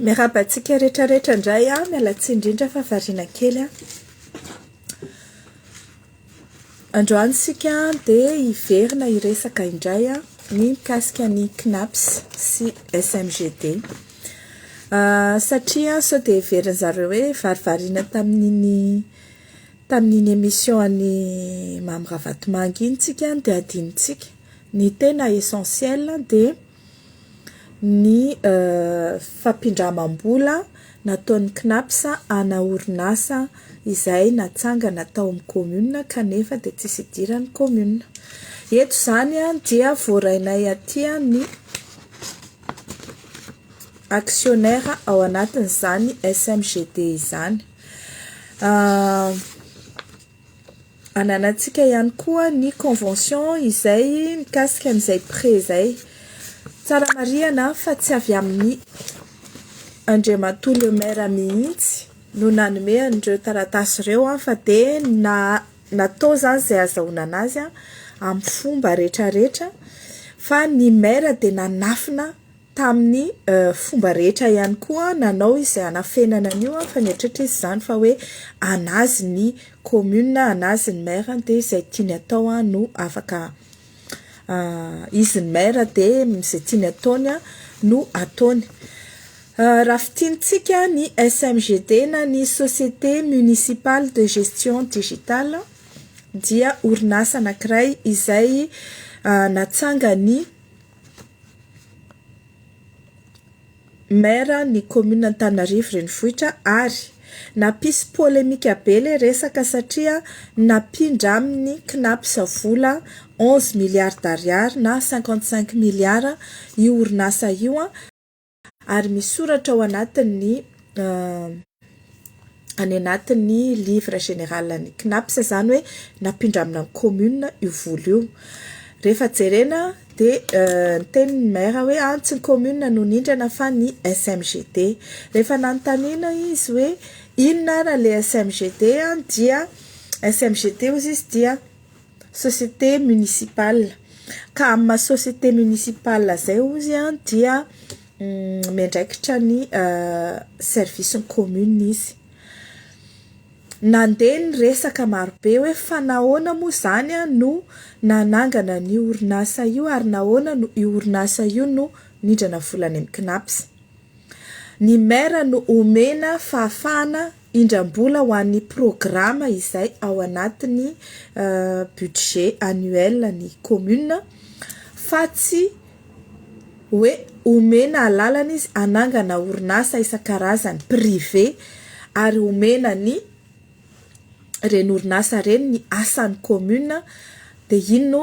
Miarahaba antsika rehetra rehetra indray an, miala tsiny indrindra fa variana kely an. Androany isika dia hiverina hiresaka indray an, ny mikasika ny CNAPS sy SMGD. Satria sao dia heverin'ny zareo hoe varivariana tamin'iny tamin'iny émission an'i Mamy Ravatomanga iny isika dia hadinontsika. Ny tena essentiel dia. ny fampindramam-bola nataon'ny Cnaps ana orinasa izay natsangana tao amin'ny kaominina kanefa dia tsisy idiran'ny kaominina. Eto izany dia voarainay aty ny actionnaire ao anatin'izany SMGD izany. Ananantsika ihany koa ny convention izay mikasika an'izay prêt izay. Tsara marihana fa tsy avy amin'ny Andriamatoa le Maire mihitsy no nanome an'ireo taratasy ireo fa dia natao izany izay ahazahoana azy amin'ny fomba rehetra rehetra fa ny Maire dia nanafina tamin'ny fomba rehetra ihany koa nanao izay hanafenana an'io fa nieritreritra izy izany fa hoe an'azy ny commune, an'azy ny maire dia izay tiany atao no afaka izy ny maire dia izay tiany ataony no ataony. Raha fintinitsika ny SMGD na ny société municipale de gestion digitale dia orinasa anankiray izay natsangan'ny Maire ny commune Antananarivo renivohitra ary nampisy polemika be ilay resaka satria nampindra aminy Cnaps vola onze milliards d'ariary na cinquante cinq milliards io orinasa io ary misoratra ao anatin'ny any anatin'ny livre général ny CNAPS izany hoe nampindramina ny commune io vola io. Rehefa jerena dia euh, niteny ny maire hoe any ah, tsy ny commune no nindrana fa ny SMGD. Rehefa nanontaniana izy hoe inona ary le SMGD ah, dia SMGD hozy izy dia société municipale ka amin'ny maha société municipale izay hozy dia miandraikitra ny service ny commune izy, nandeha ny resaka maro be hoe fa nahoana moa izany no nanangana an'io orinasa io ary nahoana no io orinasa io no nindrana vola any amin'ny CNAPS, ny maire no omena fahafahana indram-bola ho an'ny programa izay ao anatin'ny budget annuel ny commune fa tsy hoe omena alalana izy hanangana orinasa isan-karazany privé ary omena ny ireny orinasa ireny ny asan'ny commune dia iny no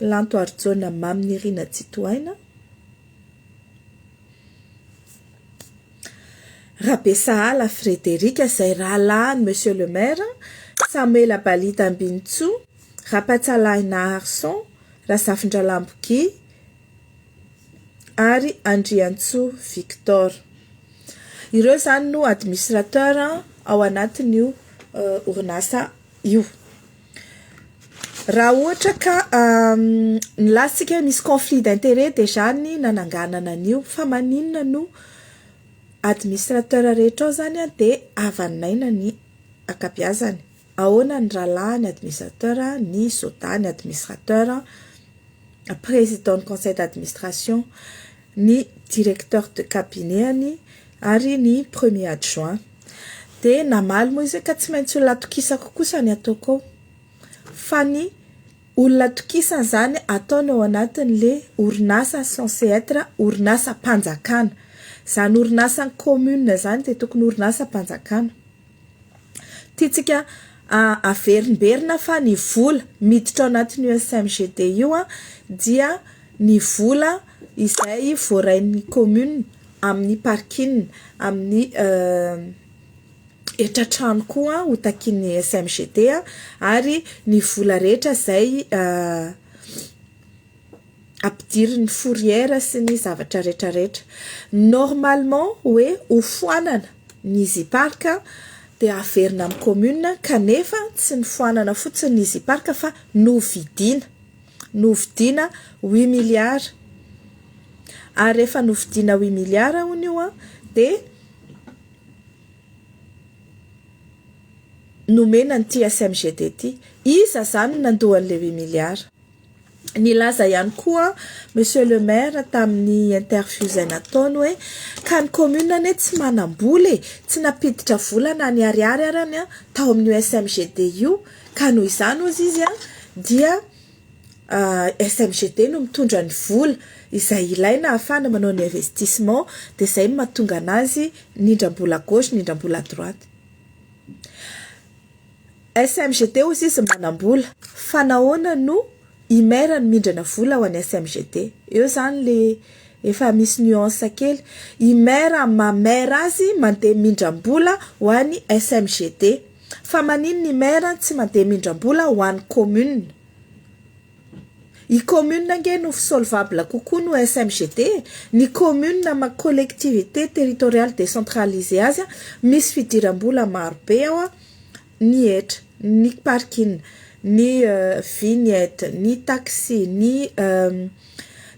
Lanto Harijaona Mamy Nirina Tsitohaina Rabesahala Frédéric izay rahalahin'i Monsieur le Maire, Samuela Balita Ambinintsoa, Rapatsalahy Naharison, Razafindralambo Guy ary Andriantsoa Victor. Ireo izany no administrateur ao anatin'io orinasa io. Raha ohatra ka nilaza tsika hoe misy conflit d'intérêt dia zany ny nananganana an'io fa maninona no administrateur rehetra ao zany dia havan'aina ny ankabiazany, ahoana ny rahalahy ny administrateur, ny soda ny administrateur, président ny conseil d'administration. ny directeur de cabinet-any ary ny premier adjoint. Dia namaly moa izy hoe ka tsy maintsy olona atokisako kosa ny ataoko ao. Fa ny olona atokisany izany ataony ao anatin'ilay orinasa censé être orinasam-panjakana. Izany orinasan'ny commune izany dia tokony orinasam-panjakana. Tiantsika averimberina fa ny vola miditra ao anatin'io SMGD io dia ny vola izay voarain'ny commune amin'ny parking, amin'ny hetra trano koa ho takian'ny SMGD ary ny vola rehetra izay ampidirin'ny fourrière sy ny zavatra rehetra rehetra. Normalement hoe hofoanana ny Ziparc dia averina amin'ny commune kanefa tsy nifoanana fotsiny ny Ziparc fa novidiana. Novidiana huit milliards. Ary rehefa novidiana huit milliards hono io dia nomena an'ity SMGD ity. Iza izany no nandoa an'ilay huit milliards? Nilaza ihany koa Monsieur le Maire tamin'ny interview izay nataony hoe ka ny commune anie tsy manam-bola e, tsy nampiditra vola na ny ariary arany an, tao amin'io SMGD io ka noho izany hozy izy an, dia SMGD no mitondra ny vola izay ilaina ahafahana manao ny investissement dia izay no mahatonga an'azy nindram-bola à gauche nindram-bola à droite. SMGT hoy izy manambola fa nahoana no i maire no mindrana vola ho an'ny SMGT? Eo zany le efa misy nuance kely. I maire maha maire azy mandeha mindram-bola ho an'ny SMGT. Fa maninona i maire tsy mandeha mindram-bola ho an'ny commune? I commune ange no fsolvable kokoa no SMGT, ny commune ama collectivité territoriale décentralisée azy a misy fidirambola maro be ao a, ny hetra, ny parkin, ny vignette, ny taxi, ny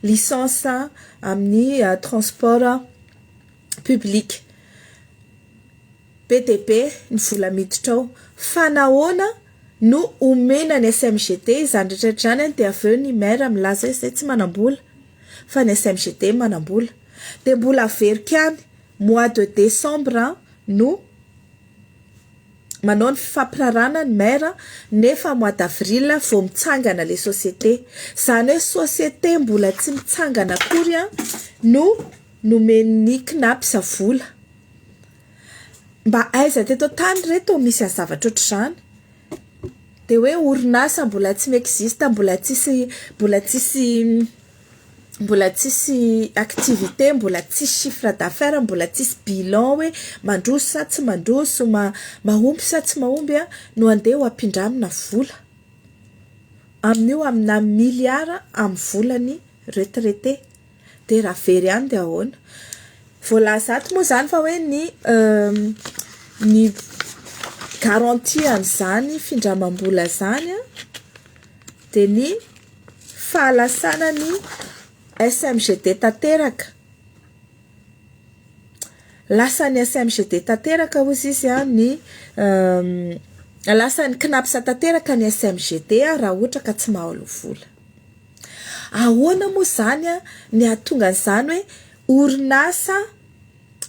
licence amin'ny transport public. Be dia be ny vola miditra ao, fa nahoana no omena ny SMGT izany rehetra izany dia avy eo ny maire milaza izay tsy manambola fa ny SMGT manambola. Dia mbola averiko ihany, mois de décembre no manao ny fifampirarahana ny maire nefa mois d'avril vao mitsangana ilay société. Izany hoe société mbola tsy mitsangana akory no nomen'ny Cnaps vola. Mba aiza teto an-tany re toa misy an zavatra ohatr'izany? Dia hoe orinasa mbola tsy mi-existe, mbola tsisy mbola tsisy mbola tsisy activité, mbola tsisy chiffre d'affaires, mbola tsisy bilan hoe mandroso sa tsy mandroso, ma- mahomby sa tsy mahomby an, no andeha ho ampindramina vola. Amin'io amina milliard amin'ny volan'ny retraité. Dia raha very any dia ahoana? Voalaza ato moa izany fa hoe ny ny garantie an'izany findramam-bola izany dia ny fahalasana ny SMGD tanteraka. Lasan'ny SMGD tanteraka hoy izy izy ny lasan'ny CNAPS tanteraka ny SMGD raha ohatra ka tsy mahaloa vola. Ahoana moa izany ny hahatonga an'izany hoe orinasa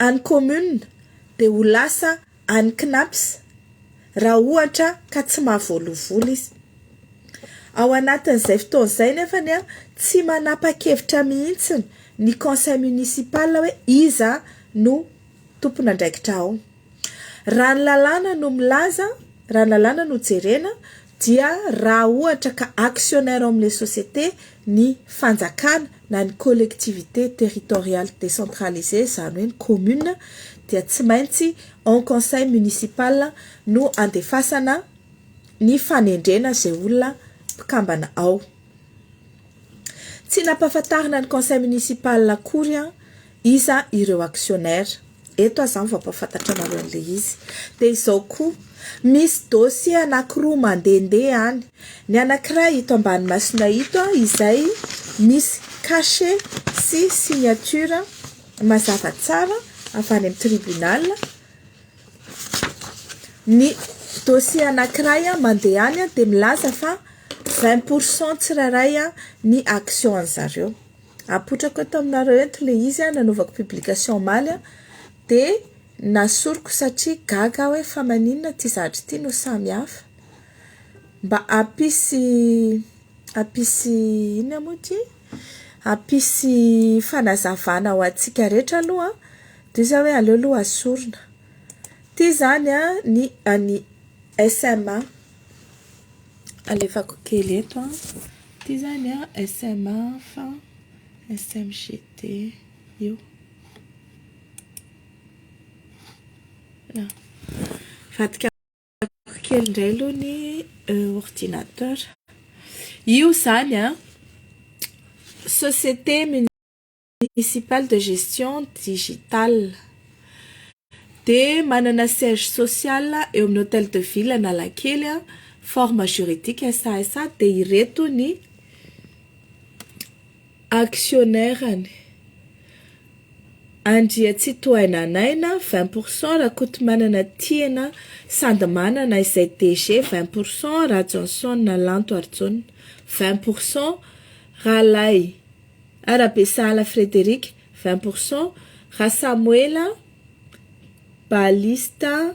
an'ny commune dia ho lasa an'ny Cnaps raha ohatra ka tsy mahavoalovola izy? Ao anatin'izay fotoana izay nefany tsy manapa-kevitra mihitsy ny conseil municipal hoe iza no tompon'andraikitra ao. Raha ny lalàna no milaza, raha ny lalàna no jerena dia raha ohatra ka actionnaire ao amin'ilay société ny fanjakana na ny collectivité territoriale décentralisée, izany hoe ny commune, dia tsy maintsy en conseil municipal no andefasana ny fanendrena izay olona mpikambana ao. Tsy nampahafantarina ny conseil municipal akory Iza ireo actionnaires? Eto aho izany vao hampahafantatra anareo an'ilay izy. Dia izao koa, misy dossiers anankiroa mandehandeha any. Ny anankiray ito ambany masonay ito izay misy cachet sy signature mazava tsara avy any amin'ny tribunal. Ny dossier anankiray mandeha any dia milaza fa vingt pour cent tsirairay ny action an'izareo. Apotrako eto aminareo eto le izy a, nanaovako publication omaly a, de nasoriko satria gaga aho hoe fa maninona ity zavatra ity no samy hafa, mba hampisy hampisy inona moa ty, hampisy fanazavana ho antsika rehetra aloha de zah hoe aleo aloha asorina, ty zany a ny an'i SMA. Alefako kely eto an. Ity izany an, SMA fa SMGT io. Vadikako kely indray aloha ny ordinateur. Io izany an, société. Municipal de Gestion Digitale dia manana siège social eo amin'ny Hôtel de Ville Analakely, forme juridique SASA dia ireto ny actionnaires-ny, Andriatsitohaina Naina vingt pour cent, Rakotomanana Tiana Sandy Manana izay DG vingt pour cent, Rajohnson Lanto Arjona vingt pour cent, Ralay. Arabe Sahala Frederic, vingt pour cent, Rasamoela Balista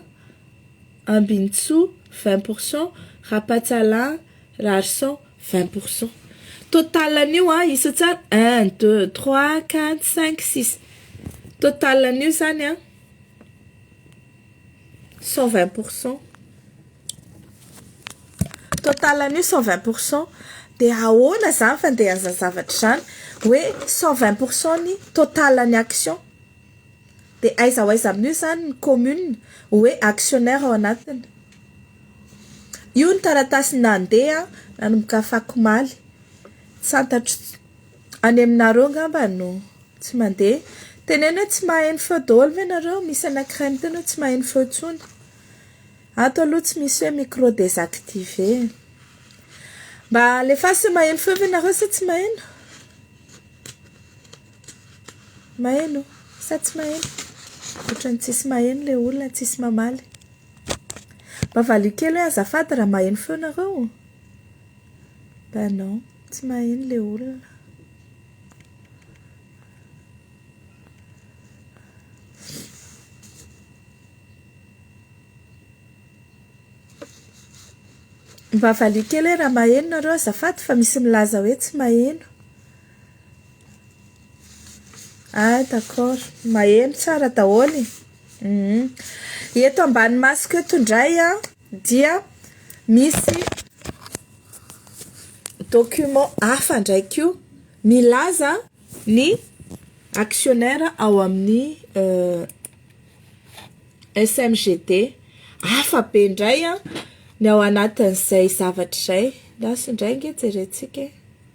Ambinintsoa, vingt pour cent, Rapatsalahy Rarison, vingt pour cent. Total an'io an, isa tsara, un, deux, trois, quatre, cinq, six. Total an'io izany an. Cent vingt pour cent Total an'io cent vingt pour cent dia ahoana izany fandehan'izany zavatra izany hoe cent vingt pour cent ny total ny action dia aiza ho aiza amin'io izany ny commune hoe actionnaire ao anatiny io ny taratasy nandeha nanomboka afakomaly tsy fantatro Any aminareo ngamba no tsy mandeha. Teneno hoe tsy maheno feo daholo ve nareo? Misy anankiray miteny hoe tsy maheno feo intsony. Ato aloha tsy misy hoe micro désactivé e. Mba alefaso hoe maheno feo ve nareo sa tsy maheno? Maheno sa tsy maheno? Ohatran'ny tsisy maheno le olona, tsisy mamaly. Mba valio kely hoe azafady raha maheno feo nareo? Bah non, tsy maheno le olona. Mba valiho kely hoe raha maheno nareo azafady fa misy milaza hoe tsy maheno. Ah d'accord, maheno tsara daholo e. Eto ambany masoko eto indray an. dia misy document hafa indray koa milaza ny actionnaire ao amin'ny SMGD hafa be indray ny ao anatin'izay zavatra izay, lasa indray ange jerentsika e.